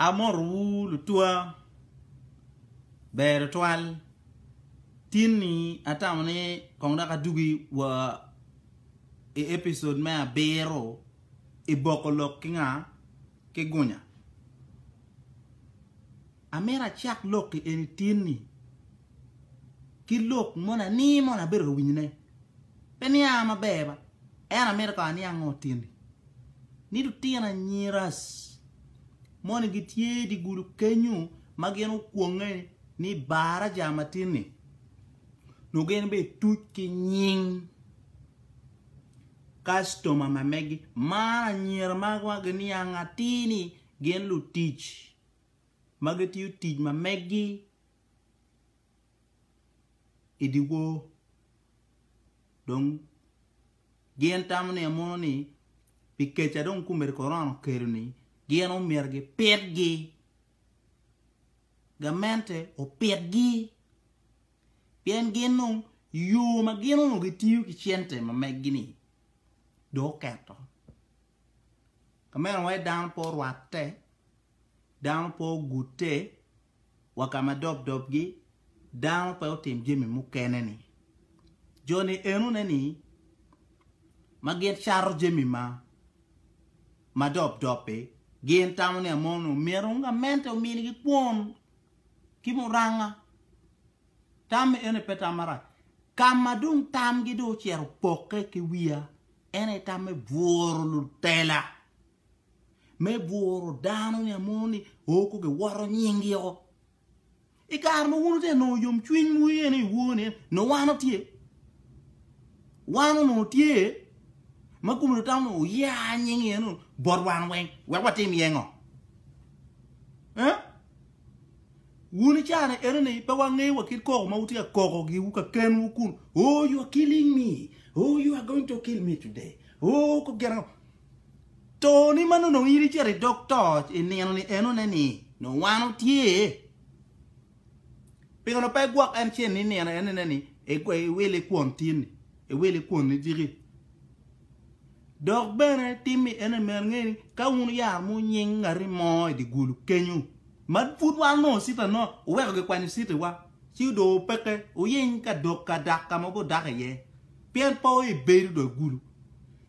Amoto wu lutwa ber twal tin ni atamo ni kong dok adugi wa i episode me abiro i boko lok ki nga ki gunya. Amito acak lok i eni tin-ni ki lok moni ani mono abedo ka winyone pe nianga maber ba, ento amito ka aniang ngo tin-ni. Ni lutino anyira moni gitye i dye gudo kenyu ma gin okwonge ni Baraja ma tin-ni, nongo gin be tuc ki nying kastoma ma megi. Man anyira ma giniang atir ni gin lutic. ma gitiyo tic ma megi i dyewor dong gin tamo ni amono ni pi keca dong komiti korona okelo-ni gin omyero gipitgi, gamente opitgi pien gin dong yo ma gin onongo gitiyo ki cente ma megi-ni dong oketo. Ka meno wai dano pe orwatte dano pe ogutte wa ka ma dobdobgi dano pe otim jami mukene-ni. Jo-ni enone-ni ma gin cato jami ma dobdobbi gin tamo ni amono omyero gamente ominigi kwon ki muranga. Tam eni pe tam marac. Ka ma dong tamgi dong ocito opokke ki wiya, en aye tam me bworo lutela me bworo dano ni amono ni oko giwoto nyingi oko. I kare ma wun te nongo yom cwiny mu iye ni iwor ni no wano tye. Wano no tye ma kumi no tamo oya nyingi iye no bot wan weng wek watim iye ngo. Eh? Wun i cani eno ni pe wangeyo wa kit koko ma wutye ka koko gi wu ka ken wu kun oh you are killing me oh you are going to kill me today oh ko gina Toni man onongo in icito i dog toc i nino ni enone ni nongo wan otye. Pingo pe igwok en cen i nino enone ni iwil i kwon tinni, iwil i kwon niciki. Dok bene tim i enone myero inge ni ka wun wuyaro mo nying ngati mo i di gulu kenyo ma pud wan onongo cita no wuweko gikwanyo citi wa ci odong wupeke wuyiny ka dok ka dak ka ma wubodok iye pien pe wabedo dong i gulu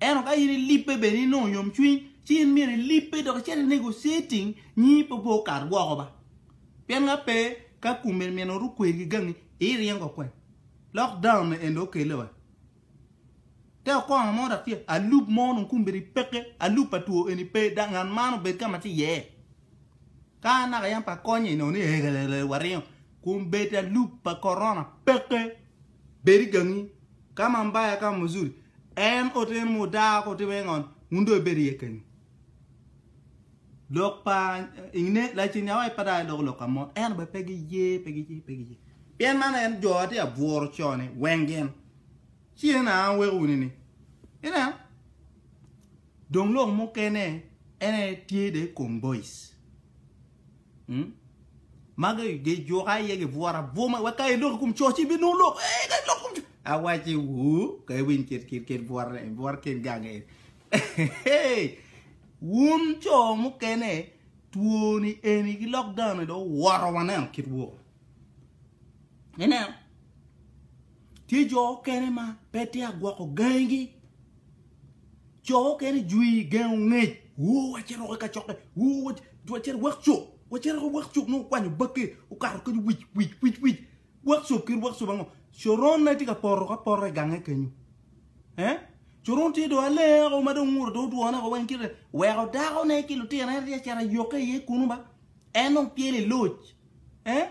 Ento ka in ilibbe bene inongo yomcwiny, ci in myero ilibbe dok icit inego citing, nyingi pe obwo okat woko ba. Pien ka pe, ka kume nino ru kwer ki gangi, iringo kwene. Lock down me eni dong okelle wa. Te okonga mo dok tye, alup mo onongo kume bene peke, alup pa two eni pe, dok ngat man obed ka ma tye iye. Ka naka yam pe akonye inongo ni eegelele waringo. Kun bedo alup pa korona peke. Bed i gangi, ka Mambaya ka Muzuri, en oteno ma odaa ka otimo iye ngol, wun dong ibed iye kenyu. Lok pa Ine, Lacen Nyawai pa dai loko lok ka mot, ento be pe giye, pe giye, pe giye. Pien man en jo atye abworo co-ni weng gin, ci en aa weko wunu ni. Ineno? Dong lok mukene, en aye tye dong i kom boice. Ma gijuka iye gibwora bwoma wek ka iloko i kom co ci ibinongo lok. Ee, ka iloko i kom co. Awacci, wuu, ka iwiny kit kit kit bwotne, bwot kit gange eni. Wun co mukene, twoni eni ki lockdown-ni dong owoto waneno kit woo. Ineno, tye jo okene ma pe tye agwoko gangi. Jo okene jwi gengo ngec. Wo wacito woko ka cokke. Wo wacito workshop. Wacito woko workshop nongo kwanyo bakke. Okato kadi wic wic wic wic. Workshop kit workshop ango? Coron ne tye ka poto ka poto i gange kenyo. Eh? Coron tye do alenge ko ma dong nguro do dwone ko wen kite. Weko dako ne ki lutino en tye cera yokke iye kunu ba. En nongo pyele loc. Eh?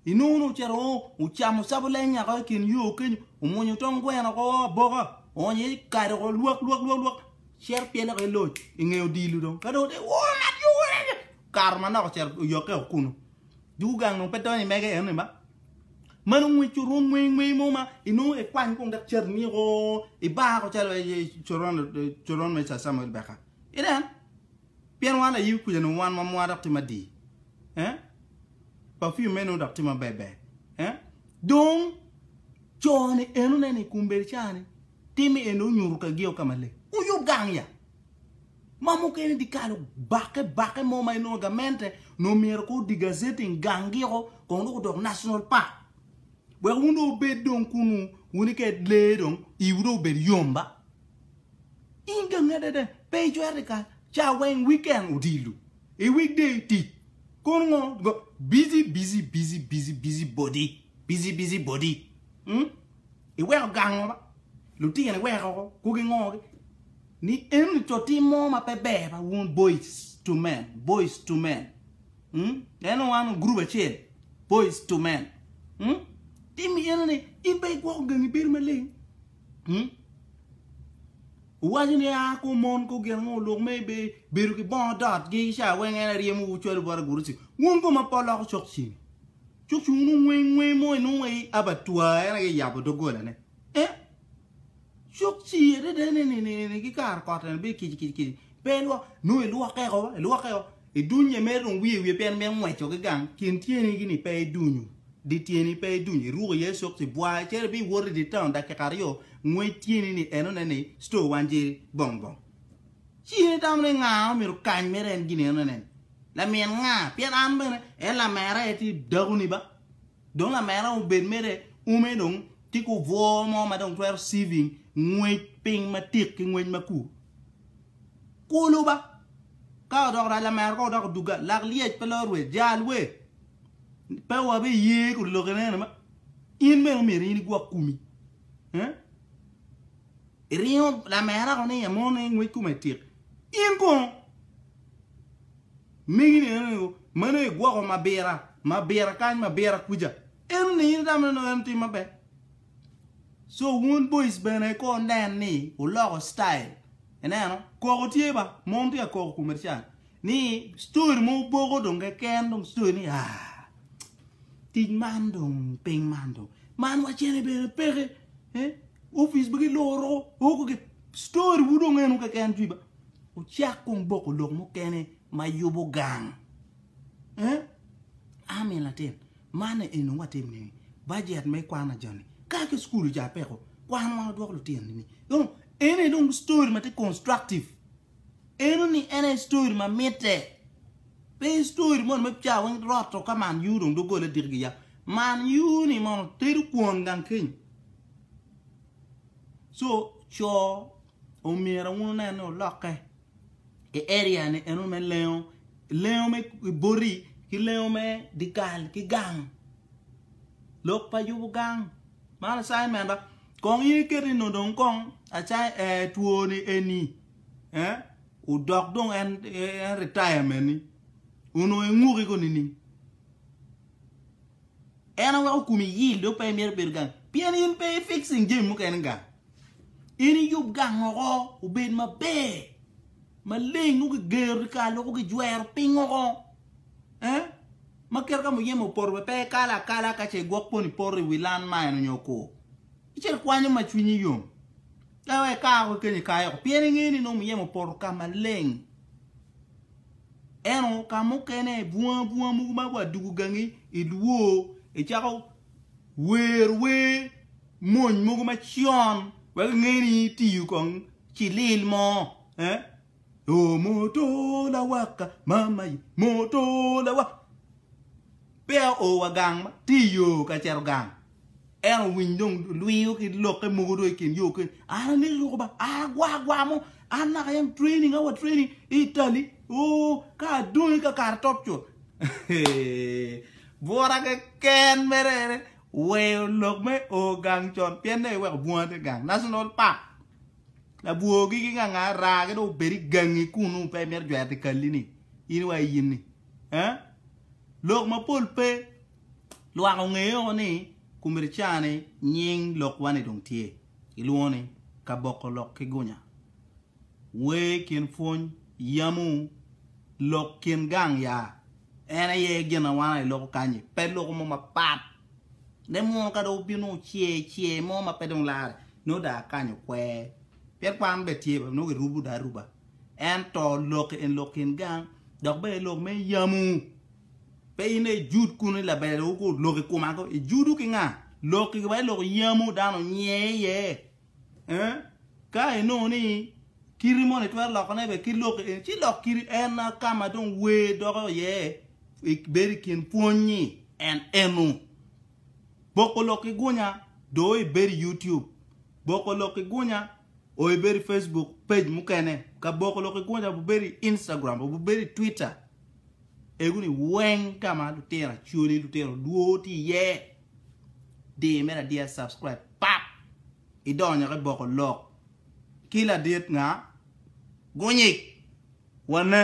Inongo ni ocito o ocamo cabo lenya ko i kin yo kenyo, omwonyo tong gweno ko aboka, oonyo iye ci kado ko lwak lwak lwak lwak, cito pyele ko i loc i nge odilo dong. Ka dong ote woo ngat yo wene ni, okato manok ocito oyokke o kunu. Dwogo gang dong pe donyo i mege eno ni ma. Ma nongo i coron mweng mweng mo ma inongo ikwany kong dok cati ni o i bar ko calo coron coron me Sir Samuel Beka. Ineno? Pien wan ayibi kuca nongo wan ma mwa dok tye madii, eh, perfume meno nongo dok tye maber ber, eh. Dong co-ni enone ni kombeddi ca-ni timme en dong onyuto ka geo ka maleng. Wuyub gang ya! Ma mukene idye kalo bakke bakke mo ma inongo gamente nongo myero ko degazetting gang giko kong dong odok national park wek wun dong wubed dong kunu wuni ked lee dong iwu dong obed yom ba. In gangi adada, pe icwero i kal, ca weng weekend odilo, i weekday tic, kono ngo, ngo, busy busy busy busy busy body, busy busy body, mm, iweko gang ngo ba, lutino iweko oko, kwo ki ngo gi, ni eni to tim mo ma pe ber ba wun boys to men, boys to men, mm, en wan group acel, boys to men, mm, tim eni ni in pe igwoko gangi bedo maleng. Wuwaco ni, 'A ka omon ka ogin angom oluk me ibe bedo ki bongo dotgi i ca weng, en aryemowu cwalo bot agurusi. Wun koma po loko cok ceng, cok ceng wun ungwe ngwe mo inongo wa i abatwa, en aye yabo doggolane. Eh? Cok ci adada ni ki kare kot eni bedo kici kici kici, pe ilwok, nongo ilwokke oko, ilwokke oko. I dunnye mere dong wiye wiye pien mito ngweco ki gang kin tyeni gi ni pe i dunyu di tyeni pe i dunyu i ruko iye sokci bwar cere bi wot i di town dakika aryo ngwec tyeni ni eno ne ni store wan jeri bong bong ci in i tamo ni nga omito kany mere en gin eno ne ni lamin nga pien an bene en lamera aye ti dakuni ba. Dong lamera obed mere ume dong tye ki obwo mo ma dong twero saving ngwec piny matik ki ngwec ma kur. Kulu ba. Ka odoko rac lamera kong odoko duga, lak lyec pe lor wer, jal wer. Pe wabi ye kodi lok enene ma. In bene omyero in igwok kumi. Eh? Iringo lamera ko ni ya mone ngwec kume tik. In kong Megi ni eno nego, meno aye gwoko mabira, mabira kany, mabira kuca. Eno ni in itamo neno en tim maber. So wun boys bene ko nen ni uloko style. Ineno, koko tye ba, mom tye ka koko kume can. Ni story mo boko dong keken dong story ni ah tic man dong piny man dong man wacene bene peke eh office bene giloro o koko story wu dong eno keken cwiba. Wucak kong boko lok mukene ma yubo gang. Eeh Army latin man eni nongo atim nini budget me kwana joni ka ki school oca peko kwan wan odwoko lutino nini dong eno aye dong story ma tye constructive eno ni en aye story ma mitte pe story moni ma ca weng roto ka man U dong dogole diki gi yap man U ni mono tedo kwon gang keny so co Omyero wun wunen ni wulokke i area ni eno me lengo, lengo me i boti ki lengo me dikal ki gang. Lok pa yubo gang man assignment-ta kong in iket ni nongo dong kong twoni eni odok dong en retirement-ni onongo inguki kong nining? En aye weko komi yil dong pe imito bedo gang pien in pe i fixing jami mukene gang. In iyub gang woko obed maber maleng nongo kigero dyekal woko kijwero piny woko ma kit ka muyeme opoto bene pe ikalo akala ka ce igwok poni poto iwi lan ma eno nyo okur ice ikwanyo ma cwinyi yom ka weko ika woko kenyo ikayo woko pien ingeyo ni nongo muyeme opoto ka maleng. Ento ka mukene bunga bunga mogo ma wa dugo gangi i lwor icako wer wer mony mogo macon wek inge ni itiyo kong ki lil mo eh oh moto lawaka mama ye moto lawaka peya o wa gang ma tye iyo ka cito gang. En owiny dong lwiyo ki lokke mogo dong ikin yo keny an amito ruko ba a agwa agwa mo an naka yam training awa training i Italy oo ka adong i kakare top cut bwura keken mere ene weyo lok me o gang con pien dong iweko bunga te gang national park labwogi ki nganga raa ki dong obed i gangi kunu pe imito jwero ti kalli ni in wa in ni lok mapol pe Lwak onge oko ni Kumircaa ni nying lokwa ni dong tye, ilwongo ni Kaboko lok ki gunya. Wer i kin pwony yamu lok kin gang ya en aye gin awana iloko kanyi pe loko mo mapat ne muno ka dong obino oce ce mo ma pe dong lare nongo da akanyo okwer pien kwan be tye bene nongo girubo da aruba ento lok en lok kin gang dok bene lok me yamu. Pe in aye ijud kun i labele wu ku lok i kuma ko. Ijudu ki nga? Lok i wai lok yamu dano nye iye. Eh? Ka inongo ni kiri moni twero loko ne be ki lok i en. Ci lok kiri en na ka ma dong wer doko iye i beri kin pwony ni en enu. Boko lok i gunya do i beri YouTube. Boko lok i gunya o i beri Facebook page mukene. Ka boko lok i gunya bu beri Instagram bu beri Twitter Egoni weng ka ma lutino acholi lutino dwor tye iye di me ladiya subscribe pap idonyo ki boko lok ki ladit nga gunyik wane.